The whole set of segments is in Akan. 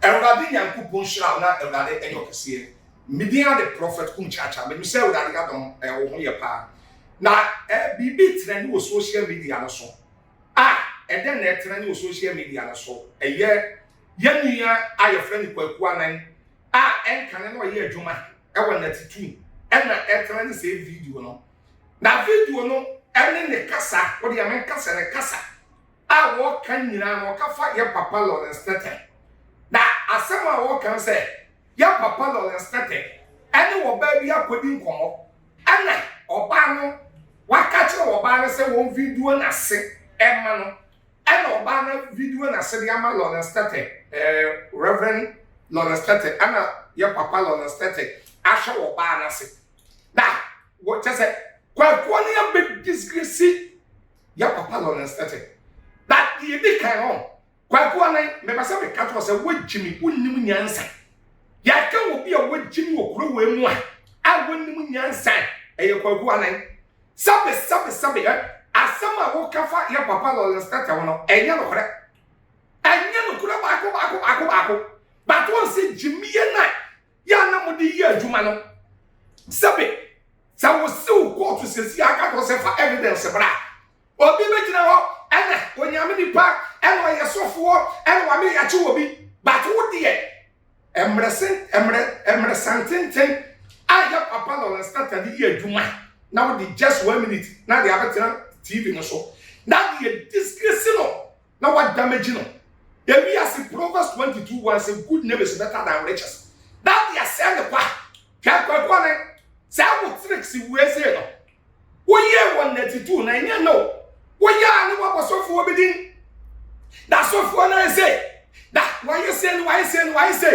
Awurade Nyankopɔn nhyira wo na Awurade ɛyɛ ɔkɛseɛ. Medin ara de Prophet Kum Kyaakyaa. Menim sɛ Awurade adom ɛwɔ eh, ho yɛ paa. Na eh, biribi trɛne wɔ social media no so. Ah, ɛdɛn na ɛtrɛne wɔ social media no so? Ɛyɛ yɛn nua a yɛfrɛ no Kwaku Anan a ɛnkane na ɔyɛ adwuma wɔ Nati Tum na ɛtena ne sɛ video no. Na video no ne ne kasa, wode yɛ me kasa ne kasa a wɔka nyinaa no ɔka fa yɛ papa Lawrence Tete. Na asɛm a wɔka sɛ yɛ papa Lawrence Tete ɛne ɔbaa bi akɔdi nkɔmmɔ ɛna ɔbaa no waka kyerɛ ɔbaa no sɛ wɔn video no ase ɛma no Ɛna ɔbaa na video na sɛ de ama Lawrence Tetteh eh Rev Lawrence Tetteh ɛna yɛ papa Lawrence Tetteh ahwɛ wɔ ɔbaa no ase na wɔ kyɛ sɛ kwakuo no yɛ bɛ disgrace yɛ papa Lawrence Tetteh na deɛ yɛdi kan hɔ kwakuo no mepɛ sɛ meka kyerɛ sɛ wogyimi wonim nyansa yɛaka wɔ bi a wogyimi wɔ kuro wei mu a a wonim nyansa ɛyɛ kwakuo anan Sɛbe sɛbe sɛbe ɛ, asɛm a woka fa yɛn papa Lawrence Tete ho no, ɛnyɛ nokorɛ. Ɛnyɛ nokorɛ baako baako baako baako. But wɔn sɛ gyimie no a yɛ a na mo de yɛ adwuma no, sɛbe sɛ wosiw kɔɔto sɛsi a aka kyerɛ sɛ fa evidence bra a, obi bɛgyina hɔ ɛna onyame nipa ɛna ɔyɛ sɔfoɔ ɛna wame yɛakye obi but wo deɛ mmerɛsantenten a yɛ papa Lawrence Tata de yɛ adwuma na wode just one minute na de abɛtena TV no so na de yɛ disgrace no na wadamage no ewi ase Proverbs 22 1 sɛ good name is better than riches na de asɛe ne kwa hwɛ kwakuo ne saa wo tricks wei sei no woyɛɛ wɔn nnatituu na ɛnyɛ no woyɛ a ne wabɔ sɔfoɔ bi din na sɔfoɔ no ayɛ sɛ na wayɛ sɛ no wayɛ sɛ no wayɛ sɛ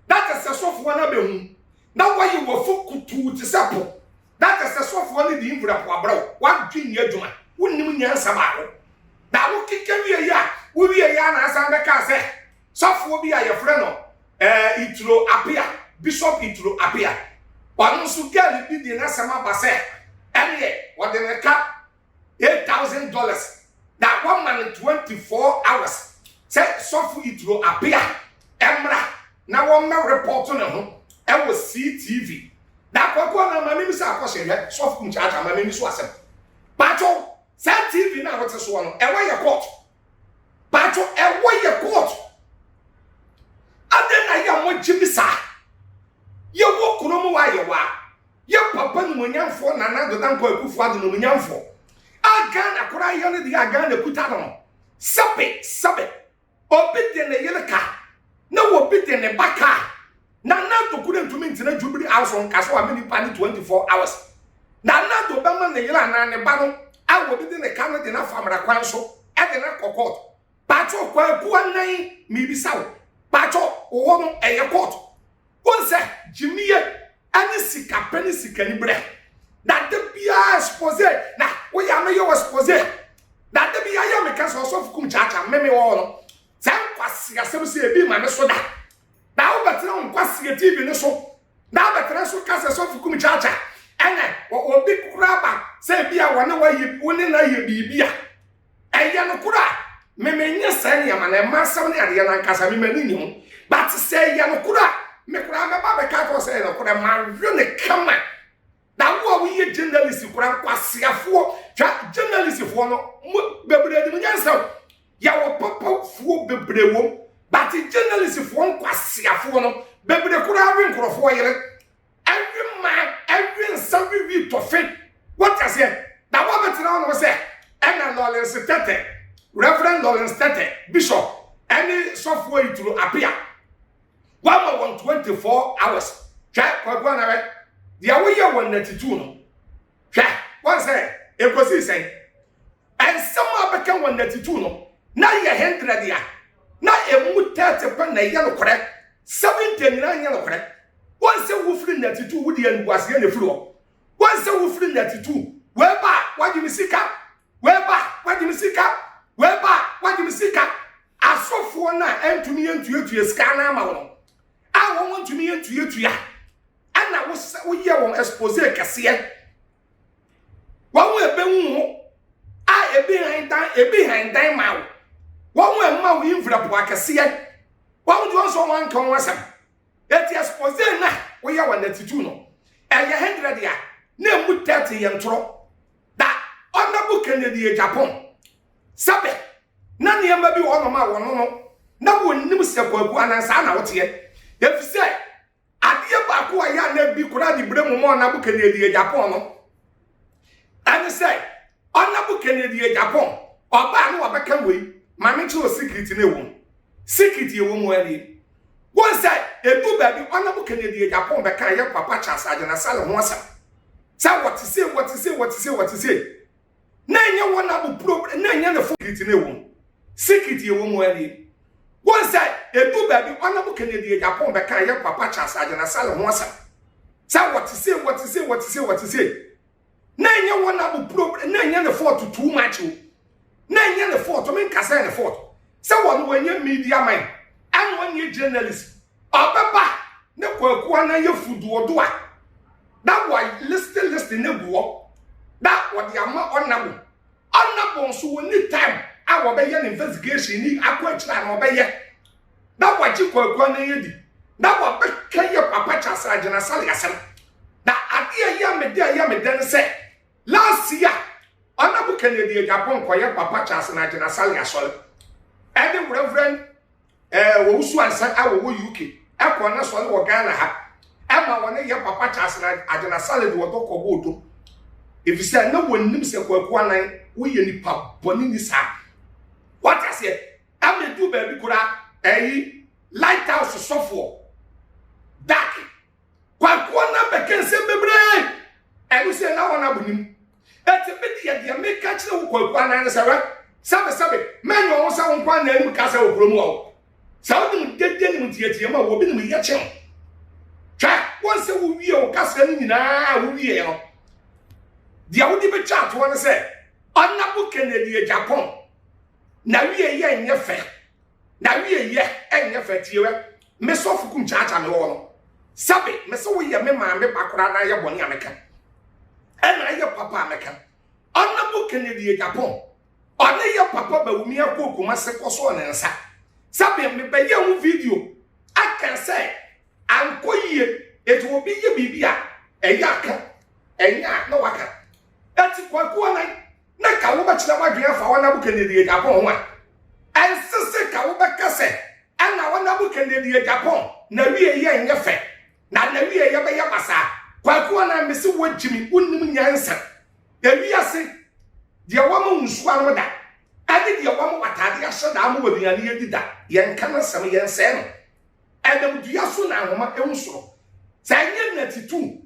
na kyɛ sɛ sɔfoɔ no abɛhu na wayɛ wafo kutuu te sɛ po na kyɛ sɛ sɔfoɔ no de mfura po abrɛ wo wadwe nni adwuma wonnim nyansa baako na wokeka wieɛ a wowieɛ a na asan bɛkaa sɛ sɔfoɔ bi a yɛfrɛ no ɛɛ Ituro Apea Bishop Ituro Apea ɔno nso girl bi de n'asɛm aba sɛ ɛneɛ wɔde ne ka eight thousand dollars na wɔma no twenty four hours sɛ sɔfo Ituro Apea ɛmmra na wɔmmɛ repɔto ne ho ɛwɔ CTV na akɔkɔ na ma n'ani sɛ akɔhyɛ hwɛ sɔfo mu kyaakya ma n'ani so asɛm baatɔ saa TV no a wɔte soɔ no ɛwɔ yɛ kɔɔto. Bato ɛwɔ yɛ court. Adɛn na yɛ a mogye me saa? Yɛwɔ kuro mu wa yɛ wa. Yɛ papa nomonyamfoɔ Nana Addo Dankwa Akufo Addo nomonyamfoɔ. A Ghana koraa yɛ no deɛ a Ghana kuta no no. Sɛbe sɛbe. Obi de ne yere ka na obi de ne ba ka. Na Nando kunu ntumi ntena Jubilee House nka so ame nnipa no 24 hours. Na Nando bɛma ne yere anaa ne ba no a wɔde di ne ka no de no afa mmara kwan so de no akɔ court. Paatwɔ Kwaku Anan mebisa wo, paatwɔ wo hɔ no ɛyɛ court? Wohu sɛ gyimie ne sika pɛ ne sikaniberɛ. Na da biara expose na woyɛ a mɛyɛ wo expose. Na da bi yɛayɛ meka sɛ ɔsɔfo kum kyaakyaa me mewɔ hɔ no. Saa nkwaseasɛm sɛ ebi ma me so da. na wobɛtena wo nkwaseɛ tv no so na wobɛtena so ka sɛ sɔfo kum kyakya ɛnɛ obi kura ba sɛ bi a wɔne wɔyɛ wo ne no ayɛ biribi a ɛyɛ no koro a memenyɛ sɛ nneɛma na ɛma asɛm ne adeɛ no ankasa memani nni ho but sɛ ɛyɛ no koro a mekora mɛba bɛka kɔ sɛ ɛyɛ no koro ma nwe ne kama Na wo a woyɛ journalist kora nkwaseafoɔ hwɛ journalistfoɔ no mo bebree nim nyansa o yɛwɔ papafoɔ bebree wom but journalistfoɔ nkwaseafoɔ no bebree koraa we nkurɔfoɔ yere ɛwe mmaa ɛwe nsa wewi tɔfe wɔtaseɛ na wɔbɛtena hɔ no sɛ ɛna lawrence tɛtɛ reverend lawrence tɛtɛ bishop ɛne sɔfoɔ yituro apea Wama wɔn twenty four hours. Hwɛ Kwaku Anare deɛ woyɛ wɔn na tituu no. Hwɛ wɔn sɛ ekosii sɛn. Ɛnsɛm a bɛka wɔn na tituu no na yɛ hundred a na emu thirty pɛ na ɛyɛ nokorɛ. Seventy nyinaa nyɛ nokorɛ. Wɔn sɛ wofiri na tituu wo deɛ animguaseɛ na efiri hɔ. Wɔn sɛ wofiri na tituu wɛɛba a wagye ne sika Weba wagye me sika weba wagye me sika asɔfoɔ no a ɛntumi yɛ ntuatua sika no ama wɔn a wɔn ntumi yɛ ntuatua ɛna woyɛ wɔn expose kɛseɛ wɔn a ɛbɛhu ho a ebi han dan ebi han dan ma wo wɔn a ɛma wo mfirapo akɛseɛ wɔn deɛ wɔn nso wɔn anka wɔn asɛm eti expose na woyɛ wɔn atitude no ɛyɛ hundred a na emu thirty yɛ ntorɔ. Da Honourable Kennedy Agyapong sɛ bɛ na nneɛma bi wɔ hɔnom a wɔno no na wɔnnim sɛ Kwaku Annan saa na woteɛ efisɛ adeɛ baako a yɛ a na bi koraa de bere mu ma Honourable Kennedy Agyapong no ɛne sɛ Honourable Kennedy Agyapong ɔbaa no wɔbɛka wei ma ne kyerɛ secret no ɛwɔ mu secret ɛwɔ mu ɛne Wohu sɛ edu baabi ɔna mo kɛnyɛ deɛ Japan bɛka yɛ Papa Charles Agyinasare ho asɛm sɛ wɔte sei wɔte sei wɔte sei wɔte sei na ɛnyɛ wɔn na mo pro na ɛnyɛ ne fo secret na ɛwɔ mu secret ɛwɔ mu ɛni wohu sɛ edu baabi ɔna mo kɛnyɛ deɛ Japan bɛka yɛ Papa Charles Agyinasare ho asɛm sɛ wɔte sei wɔte sei wɔte sei wɔte sei na ɛnyɛ wɔn abo problem na ɛnyɛ ne fault too much o na ɛnyɛ ne fault me nkasa yɛ ne fault sɛ wɔn wɔnyɛ media man ɛna wɔnyɛ journalist ɔbɛba ne kwaku anan yɛ fuduodo a na wa list list ne guɔ na wɔde ama ɔnabo ɔnabo nso wɔn ni time a wɔbɛyɛ ne investigation ni akɔ akyire a na ɔbɛyɛ. na wagye Kwaku anan adi na wabɛka yɛ papa Charles Agyena Sale asɛm. Na adeɛ a ɛyɛ me dɛ ɛyɛ me dɛ no sɛ last year Honourable Kennedy Agyapong kɔyɛ papa Charles na Agyena Sale asɔre ɛne Reverend eh, Owusu Ansa a wɔwɔ UK ɛkɔɔ no asɔre wɔ Ghana ha ɛma wɔne yɛ papa Charles na Agyena Sale de wɔdɔ kɔbɔ odo ɛfiri sɛ na wɔnim sɛ Kwaku Anan woyɛ nipa bɔne ni saa wate aseɛ Ɛna edu baabi koraa ɛyi lighthouse sɔfoɔ daki kwakuo na bɛka nsɛm bebree ɛno sɛ na wɔn abo nim ɛti bi deɛ deɛ meka kyerɛ wo kwakuo anan sɛ wɛ sɛbesɛbe mɛnyɛ ɔho sɛ wo nkwa na anim ka sɛ wɔ kurom wɔ sɛ wonim dede nim ntiatia mu a wɔbi nim yɛ kyɛw twɛ wɔn sɛ wowie wo kasa no nyinaa wowie no deɛ wode bɛtwa atoɔ no sɛ ɔnabo kennedy agyapɔn N'awieeɛ nyɛ fɛ. N'awieeɛ nyɛ fɛ. Tie wɛ. Me sɔfo kum kyaakya me wɔ no. Sɛbe, me se woyɛ me maame ba koraa na ayɛ bɔne a meka. Ɛna ayɛ papa a meka. Honorable Kennedy Agyapong, ɔne yɛ papa Bawumi Akoh Kumase kɔsɔɔ ne nsa. Sɛbe, mebɛyɛ ho video aka sɛ ankɔ yie. Eti obi yɛ biribi a ɛyɛ aka, ɛnyɛ a na waka. Eti Kwaku Anan, na ka wobɛkyerɛ w'adwene afa ɔna bo kɛnɛ deɛ Japan ho a, ɛnse se ka wobɛka sɛ ɛna ɔna bo kɛnɛ deɛ Japan na wie yɛ nyɛ fɛ na na wie yɛ bɛyɛ basaa kwaku ɔna mese wo gyimi wonim nyansa ewiase deɛ wama wo nsuo anom da ɛne deɛ wama w'ataade ahyɛ da ama w'aduane adi da yɛn ka no asɛm yɛn sɛɛ no ɛnam dua so na ahoma ehu soro sɛ ɛnyɛ natitu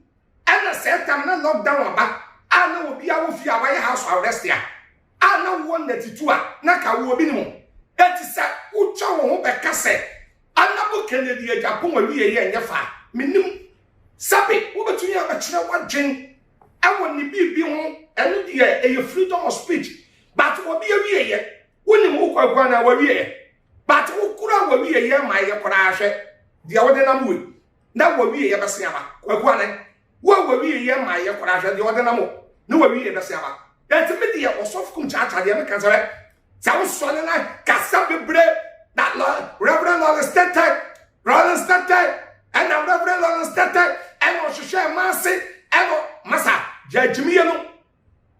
Ɛna saa tam na lock down aba a na obiara wɔ fie a wayɛ house arrest a, a na wowɔ nnɛte tu a na ka wo obi nim wo. Enti sɛ wotwa wo ho bɛka sɛ Honourable Kennedy Agyapong awieɛ ɛnyɛ fɛ a, mennim. Sɛbe wobɛtumi abɛkyerɛ w'adwen wɔ ne biribi ho, ɛno deɛ ɛyɛ freedom of speech, but obi awieɛ, wonim wo Kwaku anaa w'awieɛ? But wokora w'awieɛ ma yɛ koraa hwɛ deɛ wode nam wei. na w'awieeɛ bɛse aba. Kwaku Anɛ, wo a w'awieeɛ mmaeɛ koraa, hwɛ deɛ ɔde nam wo, na w'awieeɛ bɛse aba. Enti me deɛ Ɔsɔfo Kum Kyaakyaa deɛ meka sɛ hwɛ, sɛ wosɔre na kasa bebree na Rev. Lawrence Tetteh, Lawrence Tetteh, ɛna Rev. Lawrence Tetteh, ɛna ɔhwehwɛɛ Maase, ɛna masa, gyaa gyimie no.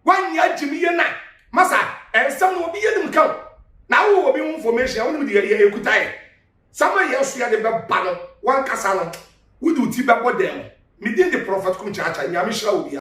W'ani agye me yie na masa ɛnsɛm no obi yɛ nim ka o na wowɔ obi ho information a wonim deɛ yɛ ɛkuta yɛ sama yɛ so yɛde bɛba no wankasa no wode wo ti bɛbɔ dɛm medin de prɔfɛt kum kyaakya nyame hyira wo bia